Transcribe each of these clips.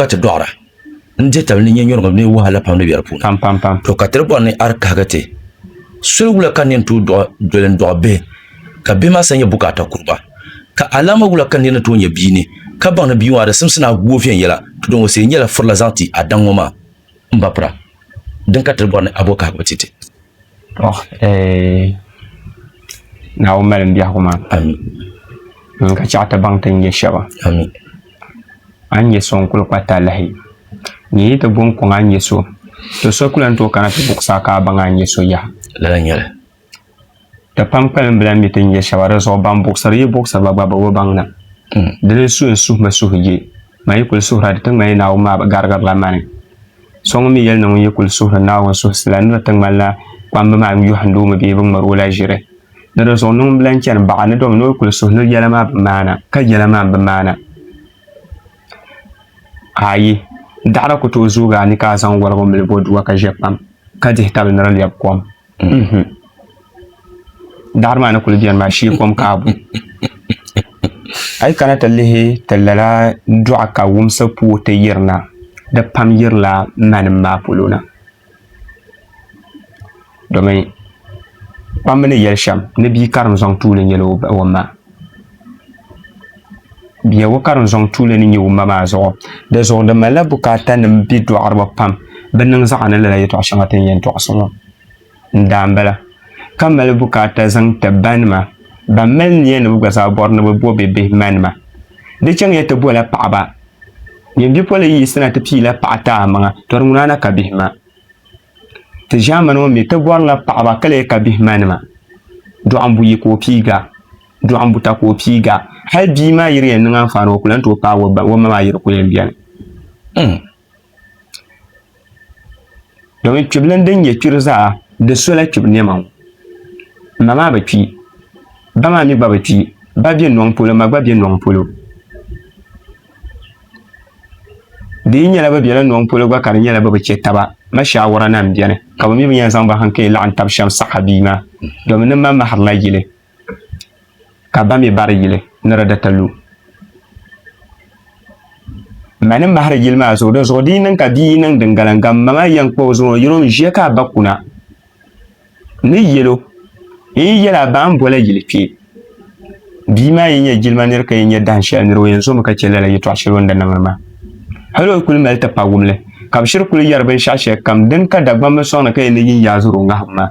ka ti dɔɣira n-dihi tab ni nyɛnyuriŋ mini wahala pam ni be di puuni. To ka ti di bɔri ni a di kahigi ti soli wula ka nir tooi dɔɣi doli n-dɔɣi bihi, ka bihi maa sa nyɛ bukaata kuriba? Ka alaama wula ka nir ni tooi nya bia ni ka baŋ ni bia maa di simsi ni a gu o viɛnyɛla? To din o sihiri nyɛla firila zaŋ ti a daŋ ŋɔ maa m-ba pira. Din ka ti di bɔri ni a bo kahigibu ti ti. Tɔ eh, Naawuni malim biɛhigu maa. Ami. Ŋun ka chɛɣu ti baŋ ti ni nyɛ shɛba. Ami. A ni nyɛ so n-kul kpa talahi, ni yi ti bo n-kɔŋ a ni nyɛ so, tɔ so ku lan tooi kana ti buɣisi a ka a baŋ a ni nyɛ so yaha. Lala nyɛli. Ti pam kpalim bi lan mi ti ni nyɛ shɛba, di zuɣu ban buɣisiri yi buɣisiriba gba bi bi baŋ na. Di ni suhi n suhimi suhigiɛ, ma yi kul suhira di ti ŋmani Naawuni maa bi garigirila ma ni. So ŋun mi yɛli ni ŋun yi kul suhiri Naawuni suhisi la ni di ti ŋmani la kpamba maa n-yɔhindi o mi bee bɛ ŋmari o la ʒiri. Ni di zuɣu niŋm bilan chani baɣa ni domi ni o kul suhi ni yɛla maa bi maana, ka yɛla maa m-bi maana. Aayi, daɣiri ku tooi zoogi a ni ka a zaŋ wɔligu mili bɔdua ka ʒe kpam, ka dihi tabili ni di lɛbi kom. daɣari maa ni kuli biɛni maa shee kom kaabu a yi kana ti lihi ti lala dɔɣu ka wumsi puo ti yirina di pam yirila manim maa polo na domin kpammi ni yɛli shɛm ni bia karim zaŋ tuuli nyɛla o ma Biɛhigu ka din zɔŋ tuuli ni nyɛ wumma maa zuɣu. Di zuɣu di malila bukaatanim bɛ dɔɣiriba pam bɛ niŋ zaɣa ni lala yɛtɔɣ shɛŋa ti ni yɛn tɔɣisi ŋɔ n-daa m-bala, ka mali bukaata zaŋ ti ba nima ban mali niya ni bɛ gba zaa bɔri ni bɛ bo bɛ bihi ma nima. Di chaŋya ti bola paɣiba, Nyini bipolin yi yiɣisina ti piila paɣa ti a maŋa, tɔri ŋuna na ka bihi ma. Ti ʒiɛmani ŋɔ mi ti bɔrila paɣiba ka lee ka bihi ma nima, dɔɣimbu yi ka o piiga. dɔɣi n buta ka o piiga hali bia maa yiri yɛn niŋ anfaani o ku lan tooi paai o ba o ma maa yiri ku yɛn bɛni hmm. domin kpibili din nyɛ kpiri zaa di sola kpibi nɛma ŋɔ ma maa bi kpi ba maa mi gba bi kpi ba bɛ nɔŋ polo ma gba bɛ nɔŋ polo di yi nyɛla bi bɛla nɔŋ polo gba ka di nyɛla bi bi chɛ taba ma shaawara na n bɛni ka bi mi bi yɛn zaŋ ba hankali laɣim tabi shɛm saɣa bia maa domin ni ma mahirila yili ka ba mi bari yili ni di di ti lu. Ma ni mahiri yili maa zuɣu, di zuɣu di yi niŋ ka bia yi niŋ din gala n-gam ma maa yɛn kpa o zuŋɔ, yino n-ʒiya ka a ba kuna ni yɛl o, n yi yɛl a ba a ni boli a yili kpe. Bia maa yi nyɛ jilima nir ka yi nyɛ dahin shɛli nir, o yɛn zomi ka chɛ lala yɛtɔɣ shɛli o ni di niŋdi maa. Hal o kul mali ti pa wumli, ka bɛ shiri kul yɛri binshɛɣu shɛlikam din ka Dagbamba sɔŋ ni ka yɛn ni yi n-yaai zuri o ŋahim maa.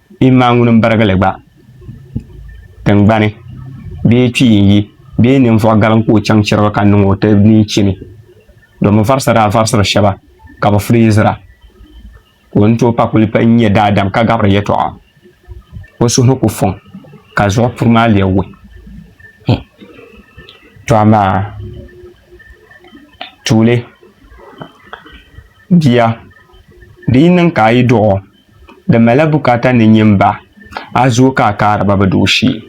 Bee maa ŋuni m-birigili gba tiŋgbani, bee kpii n-yi, bee ninvuɣ galim ka o chaŋ chiriga ka niŋ o ti mini chini, domi varisa daa varisiri shɛba ka bɛ filizira, ka o ni tooi pa kuli pa n-nyɛ daadam ka gabiri yɛtɔɣa, o suhu ni ku fɔŋ ka zuɣu puri maa lee wuhi him. To amaa tuuli bia, di yi niŋ ka a yi duɣ o, Di malila bukaata ni nyin ba a zuo ka a kaari ba bi doo shee.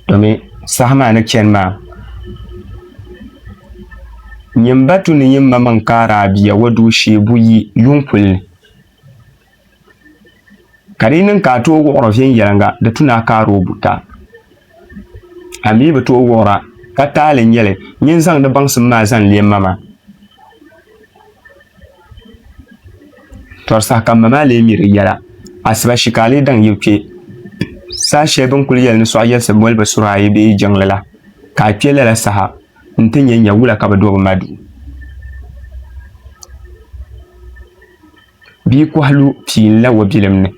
Domin saha maa ni chani maa, nyin ba tu ni nyin ma maŋ kaari a bia o doo shee buyi yuŋ puli ni. Ka di yi niŋ ka a tooi wuɣiri viɛnyɛliŋga, di tu ni a kaari o buta. A mi bi tooi wuɣira, ka taali nyɛli nyin zaŋdi baŋsim maa zaŋ leei ma maa. Tɔri saha ka mma maa lee mi di yɛla, asiba shi ka a lee daŋ yi kpe. Saha shɛli bɛ ni kul yɛli ni sɔɣ yɛlisi bolibu sura ayi bee jiŋli la, ka a kpe lala saha nti nya nya wula ka bɛ do bɛ ma duu. Bia kɔhi lu pii n-la o bilim ni.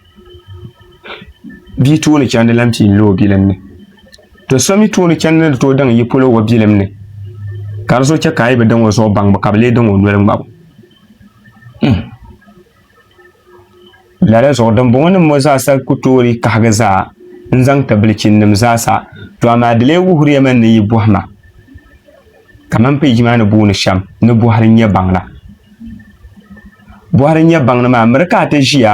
bia tooni chɛndi la n pii lo o bilim ni to so mii tooni chɛndi ni di tooi daŋ yi polo o bilim ni ka di zuɣu chɛ ka a yi bi daŋ o zuɣu baŋbu ka bi lee daŋ o noli ŋmabu hmm. lala zuɣu dimbɔŋɔ nim ŋɔ zaasa ku toori kahigi zaa n zaŋ ti bilichinim zaasa to amaa di lee wuhiriyami ni yi bɔhima Kamani peeji maa ni booni shɛm ni bɔhiri n nyɛ baŋda. Bɔhiri n nyɛ baŋda maa miri ka a ti ʒiya.